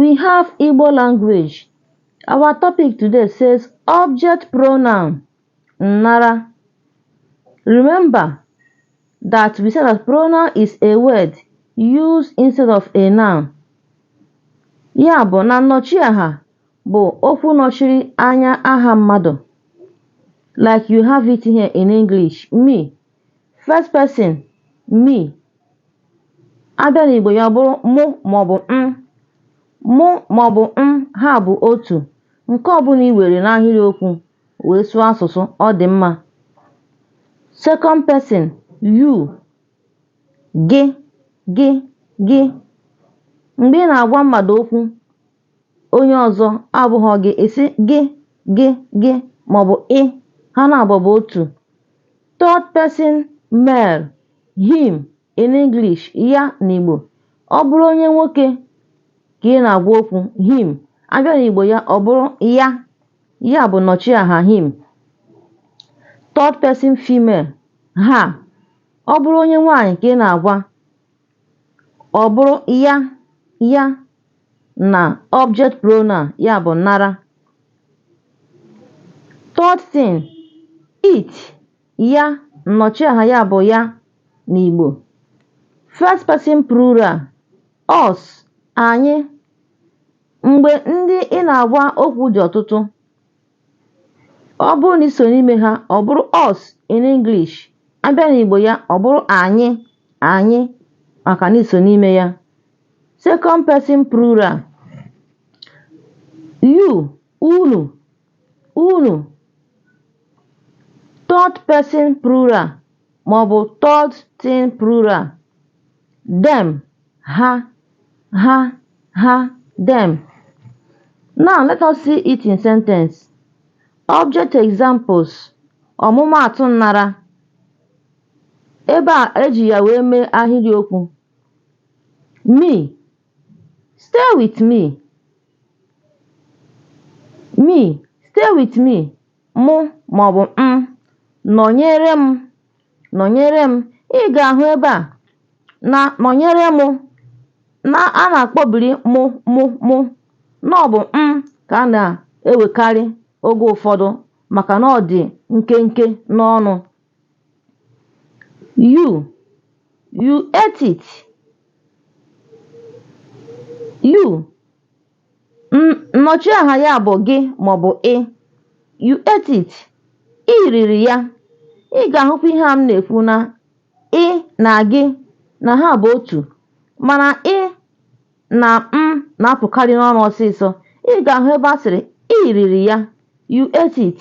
We have Igbo language. Our topic today says object pronoun nnara. Remember that we said that pronoun is a word used instead of a noun. Ya bụ na nnọchiaha bụ okwu nọchiri anya aha mmadụ. Like you have it here in English, me. first person me a bịa n'Igbo ya ọ bụrụ mụ maọbụ m mụ maọbụ m ha bụ otu nke ọbụla i were n'ahịrịokwu wee sụọ asụsụ ọ dị mma second person you gị gị gị mgbe ị na-agwa mmadụ okwu onye ọzọ abụghị gị ị sị gị gị gị maọbụ ị ha naabọ bụ otu third person male him in English ya n'Igbo ọ bụrụ onye nwoke ka ị na-agwa okwu him a bịa n'Igbo ya ọ bụrụ ya ya bụ nnọchiaha him third person female her ọ bụrụ onye nwaanyị ka ị na-agwa ọ bụrụ ya ya na object pronoun ya bụ nnara third thing it ya nnọchiaha ya bụ ya n'Igbo first person plural us anyị mgbe ndị ị na-agwa okwu dị ọtụtụ ọ bụrụ na i so n'ime ha ọ bụrụ us in English a bịa n'Igbo ya ọ bụrụ anyị anyị maka na i so n'ime ya second person plural you unu unu third person plural maọbụ third thing plural Them, ha, ha, ha, them. Now let us see it in sentence. Object examples ọmụmaatụ nnara ebe e ji ya wee mee ahịrịokwu me stay with me me stay with me mụ maọbụ m nọnyere m nọnyere m ị ga-ahụ ebe a na nọnyere mụ na a na-akpọbiri mụ mụ mụ na ọ bụ m ka a na-ewekarị oge ụfọdụ maka na ọ dị nkenke n'ọnụ you you ate it you Nnọchiaha ya bụ gị maọbụ ị. You ate it. Ị riri ya. Ị ga-ahụkwa ihe a m na-ekwu na ị na gị na ha bụ otu mana ị na m na-apụkarị n'ọnụ ọsịsọ. Ị ga-ahụ ebe a sịrị ị riri ya. You ate it.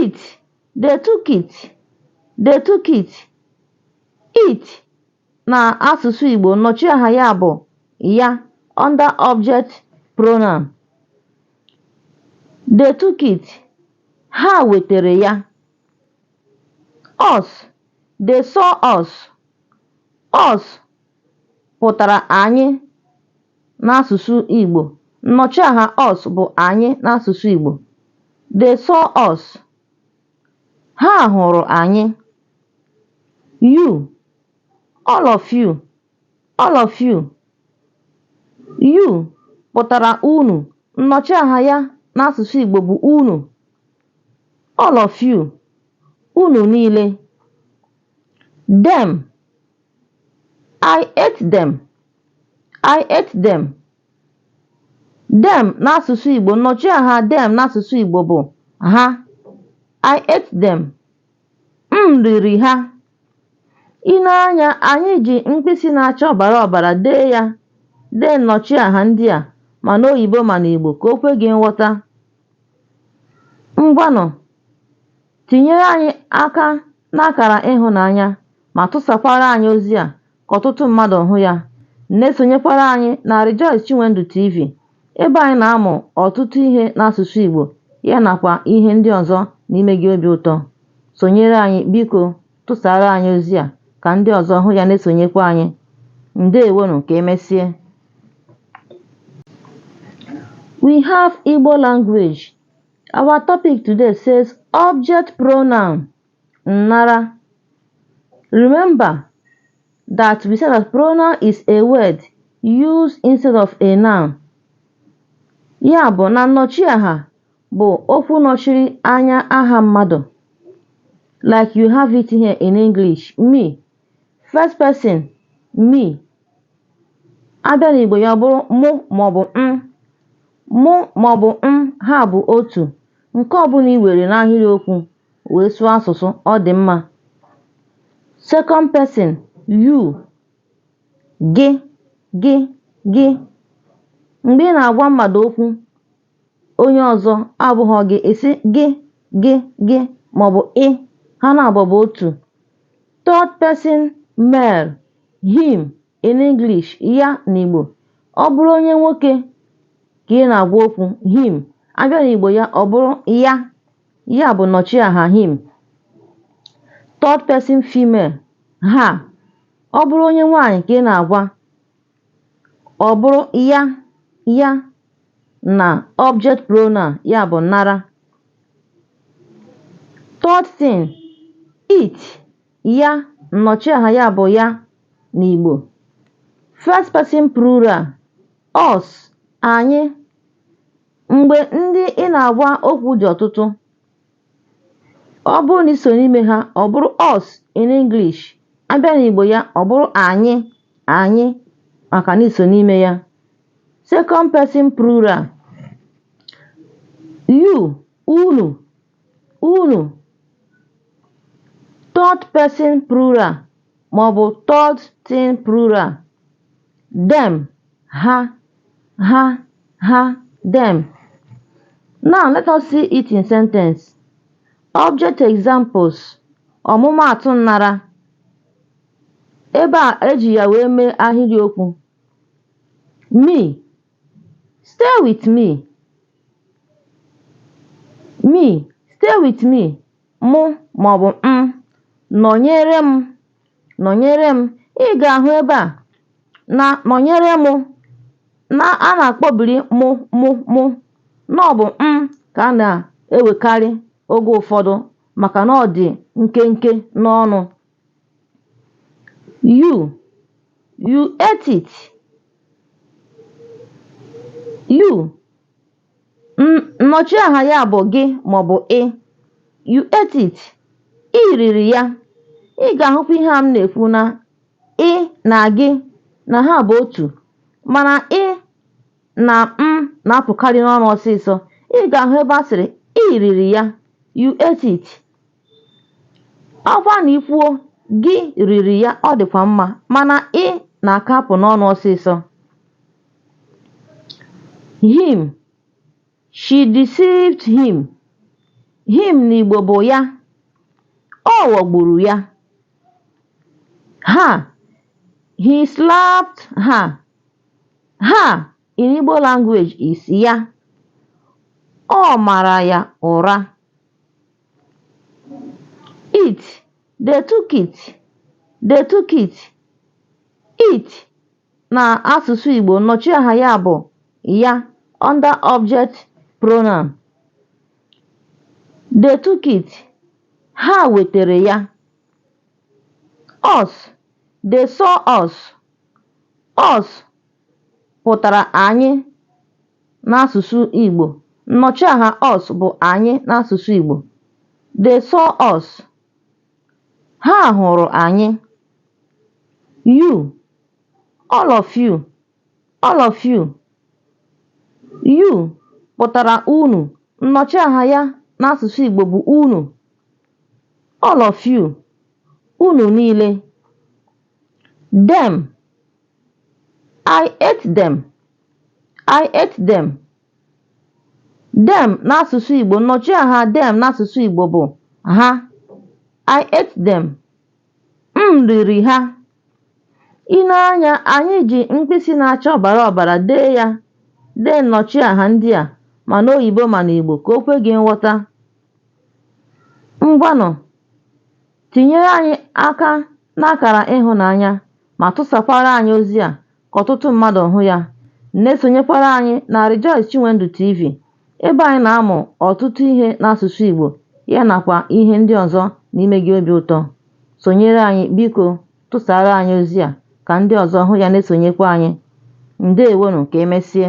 it they took it they took it it na asụsụ Igbo nnọchiaha ya bụ ya under object pronoun they took it ha wetere ya us they saw us us pụtara anyị n'asụsụ Igbo. Nnọchiaha us bụ anyị n'asụsụ Igbo. They saw us. Ha hụrụ anyị. You, all of you, all of you. You pụtara unu. Nnọchiaha ya n'asụsụ Igbo bụ unu. All of you, unu niile. Them, I ate them, I ate them. Them n'asụsụ Igbo, nnọchiaha them n'asụsụ Igbo bụ ha. I ate them. M riri ha. I nee anya, anyị ji mkpịsị na-acha ọbara ọbara dee ya dee nnọchiaha ndị a ma n'oyibo ma n'Igbo ka o kwe gị nghọta. Ngwanụ Tinyere anyị aka n'akara ịhụnanya ma tụsakwara anyị ozi a ka ọtụtụ mmadụ hụ ya. Na-esonyekwara anyị na Rejoice Chinwendu TV ebe anyị na-amụ ọtụtụ ihe n'asụsụ Igbo ya nakwa ihe ndị ọzọ na-eme gị obi ụtọ. Sonyere anyị biko tụsara anyị ozi a ka ndị ọzọ hụ ya na-esonyekwa anyị. Ndewonu ka emesie. We have Igbo language. Our topic today says object pronoun nnara. Remember that we said that pronoun is a word used instead of a noun. Ya bụ na nnọchiaha bụ okwu nọchiri anya aha mmadụ. Like you have it here in English, me, first person me a bịa n'Igbo ya ọ bụrụ mụ maọbụ m mụ maọbụ m ha bụ otu nke ọbụla i were n'ahịrịokwu wee sụọ asụsụ ọ dị mma second person you gị gị gị mgbe ị na-agwa mmadụ okwu onye ọzọ abụghọ gị ị sị gị gị gị maọbụ ị ha naabọ bụ otu third person male him in English ya n'Igbo ọ bụrụ onye nwoke ka ị na-agwa okwu him a bịa n'Igbo ya ọ bụrụ ya ya bụ nnọchiaha him third person female her ọ bụrụ onye nwaanyị ka ị na-agwa ọ bụrụ ya ya na object pronoun ya bụ nnara third thing it ya nnọchiaha ya bụ ya n'Igbo first person plural us anyị mgbe ndị ị na-agwa okwu dị ọtụtụ ọ bụrụ na i so n'ime ha ọ bụrụ us in English a bịa n'Igbo ya ọ bụrụ anyị anyị maka na i so n'ime ya second person plural you unu unu third person plural maọbụ third thing plural, them, ha, ha, ha, them. Now let us see it in sentence. Object examples ọmụmaatụ nnara ebe e ji ya wee mee ahịrịokwu me stay with me me stay with me mụ maọbụ m nọnyere m nọnyere m ị ga-ahụ ebe a na nọnyere mụ na a na-akpọbiri mụ mụ mụ na ọ bụ m ka a na-ewekarị oge ụfọdụ maka na ọ dị nkenke n'ọnụ you you ate it you Nnọchiaha ya bụ gị maọbụ ị. You ate it. I riri ya. Ị ga-ahụkwa ihe a m na-ekwu na ị na gị na ha bụ otu mana ị na m na-apụkarị n'ọnụ ọsịsọ. Ị ga-ahụ ebe a sịrị i riri ya. You ate it. ọkwa na i kwuo gị riri ya ọ dịkwa mma mana ị na-aka apụ n'ọnụ ọsịsọ him she deceived him him n'igbo bụ ya ọ ghọgburu ya her he slapped her her in igbo language is ya ọ mara ya ụra it they took it they took it it na asụsụ Igbo nnọchiaha ya bụ ya under object pronoun they took it ha wetere ya us they saw us us pụtara anyị n'asụsụ Igbo. Nnọchiaha us bụ anyị n'asụsụ Igbo. They saw us. Ha hụrụ anyị. You, all of you, all of you. You pụtara unu. Nnọchiaha ya n'asụsụ Igbo bụ unu. All of you, unu niile. Them, I ate them, I ate them. Them n'asụsụ Igbo, nnọchiaha them n'asụsụ Igbo bụ ha. I ate them. M riri ha. I nee anya, anyị ji mkpịsị na-acha ọbara ọbara dee ya dee nnọchiaha ndị a ma n'oyibo ma n'Igbo ka o kwe gị nghọta. Ngwanụ Tinyere anyị aka n'akara ịhụnanya ma tụsakwara anyị ozi a ka ọtụtụ mmadụ hụ ya. Na-esonyekwara anyị na Rejoice Chinwendu TV ebe anyị na-amụ ọtụtụ ihe n'asụsụ Igbo ya nakwa ihe ndị ọzọ na-ime gị obi ụtọ. Sonyere anyị biko tụsara anyị ozi a ka ndị ọzọ hụ ya na-esonyekwa anyị. Ndewonụ ka emesie.